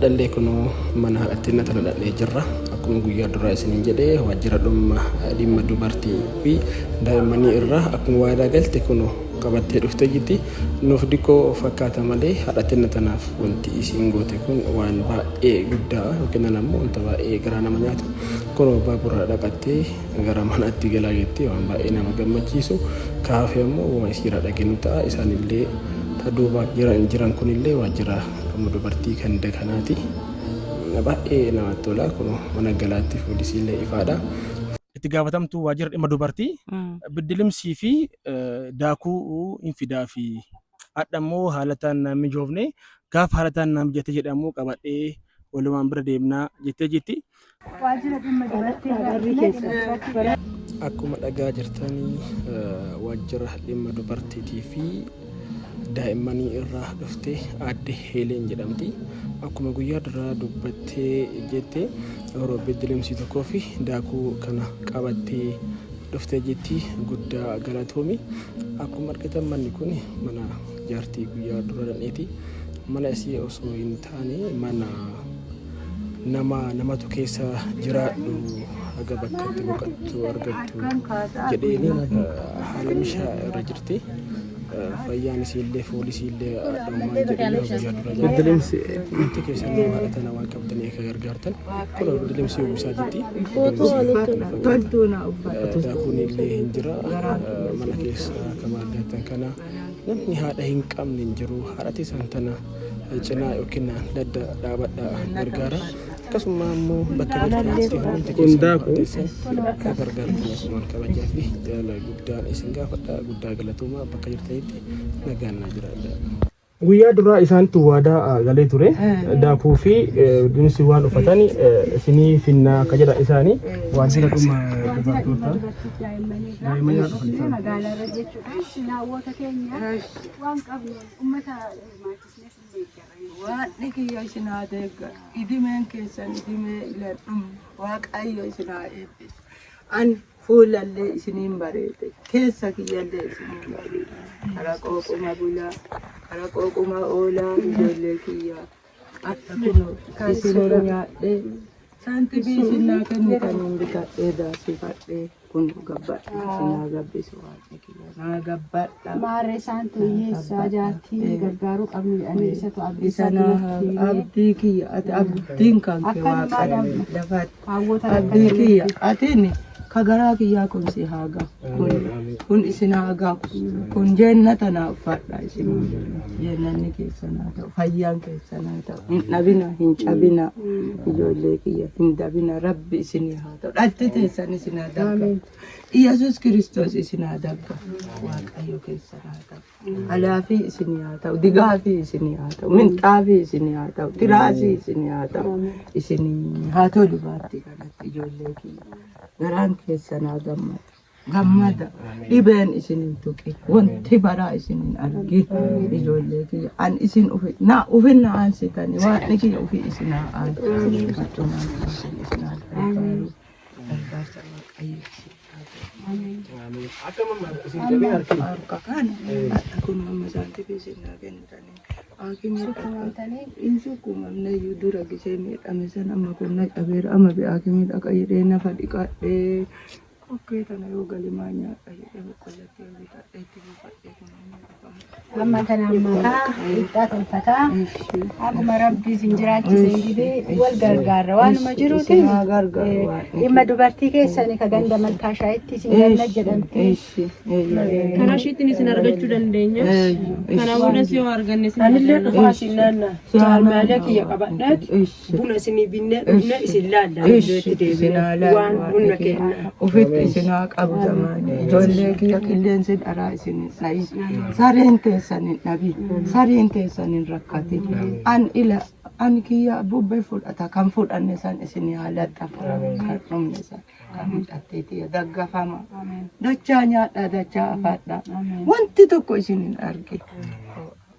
Dhallee kunoo mana haadhattinna tana dhaqnee jirra. Akkuma guyyaa duraa isiniin jedhe waajjira dhumma dhimma dubartii fi daa'immanii irraa akkuma waadaa galte kunoo qabattee dhuftee jirti. Nuuf diqqoo fakkaata malee haadhattinna tanaaf wanti isiin goote kun waan baay'ee guddaa yookiin ammoo wanta baay'ee garaa nama nyaatu. Kunoo baabura dhaqattee Gara manaatti galaa jettee waan baay'ee nama gammachiisu kaafee ammoo wama isiirraa dhageenyu ta'a isaanillee ta duuba jiran jiran kunillee waajjira dhuma dubartii kan dakanaati baay'ee namatti tola kun mana galaatti fuulisiillee ifaadha. Itti gaafatamtuu waajjira dhimma dubartii biddilimsii fi daakuu hin fidaa fi hadha immoo haalataan naan mijoofne gaafa haalataan naan mijate jedhamu qabadhee walumaan bira deemnaa jettee jirti. Waajjira dhimma dubartii irratti keessatti Akkuma dhagaa jirtanii waajjira dhimma dubartiitii fi daa'immanii irraa dhufte aadde Heeleen jedhamti. Akkuma guyyaa duraa dubbattee jette yeroo beddelemsii tokkoo fi daakuu kana qabattee dhufte jetti guddaa galatoomi. Akkuma argitan manni kun mana jaartii guyyaa dura dhaqneeti. Mana isii osoo hin taane mana nama namatu keessa jiraadhu haga bakka itti boqattu argattu jedheeni haala mishaa irra jirti. Fayyaan isiillee foolii isiillee haadhoomaan jedhanii guyyaa dura Beddelimsi Wanti keessan nama haadha tana waan qabdanii akka gargaartan kun beddelimsi uwwisaa jirti. Toltuu na uffatu. Daakuun illee hin jira. Mana keessa akka maal argattan kana. Namni haadha hin qabne hin jiru. Haadha teessan tana cinaa yookiin ladda dhaabadhaa gargaara. Akkasummaa immoo bakka jirtanitti hundumti keessan haadha teessan gargaartan asumaan kabajaa fi jaalala guddaan isin gaafadha. Guddaa galatoomaa bakka jirtanitti nagaan naa jiraadha. Guyyaa duraa isaantu waadaa ah, galee ture daakuu fi dinsi waan uffatan isinii finnaa akka jedha isaanii waajjira dhuma dubartootaa daa'immanii haa dhufan isaan. Eshi naawwota keenya waan qabnu ummata hirmaachisnee sin deeggara. Waaqni kiyya isin haa deeggaru. Idimeen keessan idimee iladhum waaqayyo isin haa eebbisu. An fuulallee isiniin bareede keessa kiyyallee isiniin bareede. Kara qooquma bulaa, kara qooquma oolaa ijoollee kiyyaa. Akka kunoo isin irra nyaadhee saantibii isin naa kennu kan hin bitadhee daasifadhee kun gabbadha isin haa gabbisu waaqni kiyya naa gabbadha. Maarree isaan hiyyeessaa jaartii gargaaruu qabnu jedhanii isatu abdii Isa isaa naa haa duratti himee abdii kiyya ati abdiin kan kee Akka namaa waaqadha. dhabdu. Lafa Kaawwota Abdii kiyya atiin ka garaa kiyyaa kun si haa gahu. Kun, kun isin haa gahu. Kun jeennata naa uffadha isin. Jeennanni keessan haa ta'u. Fayyaan keessan haa ta'u. Hin dhabina, hin cabina. Ijoollee kiyya hin dabina. Rabbi isin haa ta'u. Dhalti teessan isin haa dabga. Iyyasuus Kiristoos isin haa dabga. Waaqayyo keessan haa ta'u. Alaafii isinii haa ta'u, digaafii isinii haa ta'u, minxaafii isinii haa ta'u, tiraasii isinii haa ta'u, isinii haa tolu baatti kanatti ijoollee kiyya. Garaan keessan haa gammadu. Gammada. Dhibeen isin hin tuqin. Wanti baraa isin hin argin. Ijoollee kiyya. An isin ufi. Na ufin na aansitani. Waaqni kiyya ufi isin haa aansu. Achumaan isin isin haa gargaaru. Gargaarsa waaqayyo siif haa ta'u. Akka mamma isin jabee harkii. Harka kana kun amma saantifiin sinnaa kennitanii haakimii Sukkuumamtanii? hin sukkuumamne iyyuu dura gisee miidhame san amma kun na cabeera amma bi'aa haakimii dhaqa jedhee nafa dhiqadhee kokkee tana yoo galimaa nyaadha jedhee boqqollatti yoo bitadhee itti buufadhee kun amma Amma kana ammakaa ibsaa tolfataa akkuma rabbi isin jiraachise jedhee wal gargaarra waanuma jiruuti dhimma dubartii keessanii ka ganda malkaa shaayitti isin ganna jedhamti. Karaa ishiitiin isin argachuu dandeenya. Kana boodas yoo arganne isin Anillee dhugaa isin naannaa. Jaalmaalee kiyya qabadheet. buna isinii binnee dhufne isin laalla itti deebine waan bunna kenna. Ofitti isin haa qabu zamaan. Ijoollee kiyya qilleensi dharaa isin hin dhayin. Sareen teessan hin dhabin. Sareen teessan hin rakkatin. An ila an kiyya bubbee fudhata kan fudhanne san isin haa laxxafa. Kan dhumne san kan hidhattee tiyya daggafama. Dachaa nyaadhaa dachaa afadhaa. Wanti tokko isin hin argin.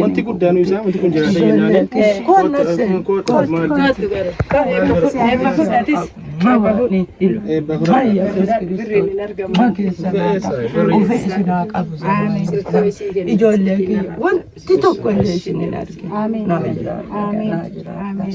Wanti guddaan isaa wanti kun jiraata jennaan. Ijoollee kiyya wanti tokko illee isin hin argine. Ameen. Ameen.